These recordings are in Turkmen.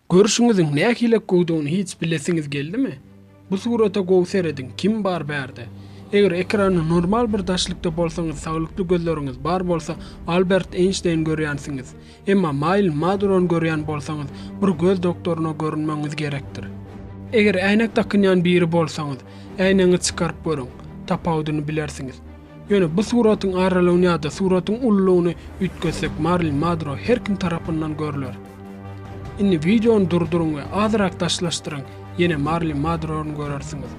Görşüňiziň nähilek gowdygyny hiç bilesiňiz geldimi? Bu surata gowy serediň, kim bar bärde? Eger ekranda normal bir daşlykda bolsaňyz saglykly gözleriňiz bar bolsa Albert Eýnşteýn görýänsiňiz. Emma Maýln Madurony görýän bolsaňyz bir göz doktoryna görünmegiňiz gerekdir. Eger äýnek dakynýan biri bolsaňyz, äýnegiňi çykaryp görüň, tapawudyny bilersiňiz. Ýöne bu suratyň aralygyny ýa-da suratyň ululygyny üýtgetsek Marilyn Madro her kim tarapyndan görler. Indi wideony durduryň we azyrak daşlaşdyryň ýene Marilyn Madrony görersiňiz.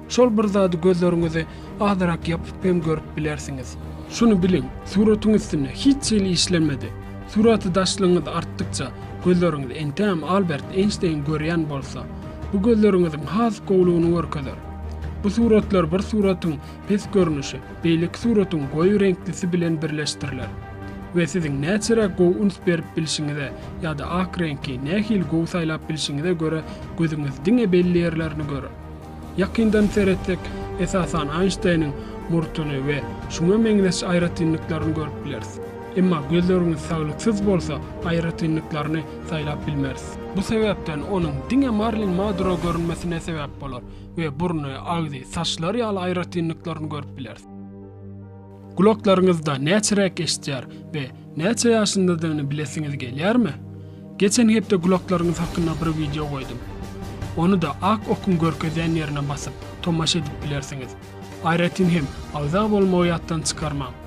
Şol bir zady gözleriňizi azyrak ýapyp hem görüp bilersiňiz. Şuny biliň, suratyň üstünde hiç hili işlenmedi. Suraty daşlygyňyz artdykça, gözleriňiz entägem Albert Eýnşteýn görýän bolsa, bu gözleriňiziň has gowlugyny görkezer. Bu suratlar bir suratyň Pes görnüşi beýleki suratyň goýy reňklisi bilen birleşdiriler we siziň näçeräk gowy üns berip bilşiňize ýa-da ak reňki nähili gowy saýlap bilşiňize görä gözüňiz diňe belli ýerlerini görer. Ýakyndan seretsek, esasan Aýnşteýniň murtuny we şuňa meňzeş aýratynlyklaryny görüp bileris. Emma gözleriňiz saglyksyz bolsa, aýratynlyklaryny saýlap bilmeris. Bu sebäpden onuň diňe Marlin Madro görünmesine sebäp bolar. we burny, agzy, saçlary ýaly aýratynlyklaryny görüp bilersiň. Gulaklaryňyzda näçe räk eşitýär we näçe ýaşyndadygyny bilesiňiz gelýärmi? Geçen hepde gulaklaryňyz hakynda bir wideo goýdum. Ony-da ak okuň görkezýän ýerine basyp, tomaşa edip bilersiňiz. Aýratyn hem, agza bolmagy ýatdan çykarmaň.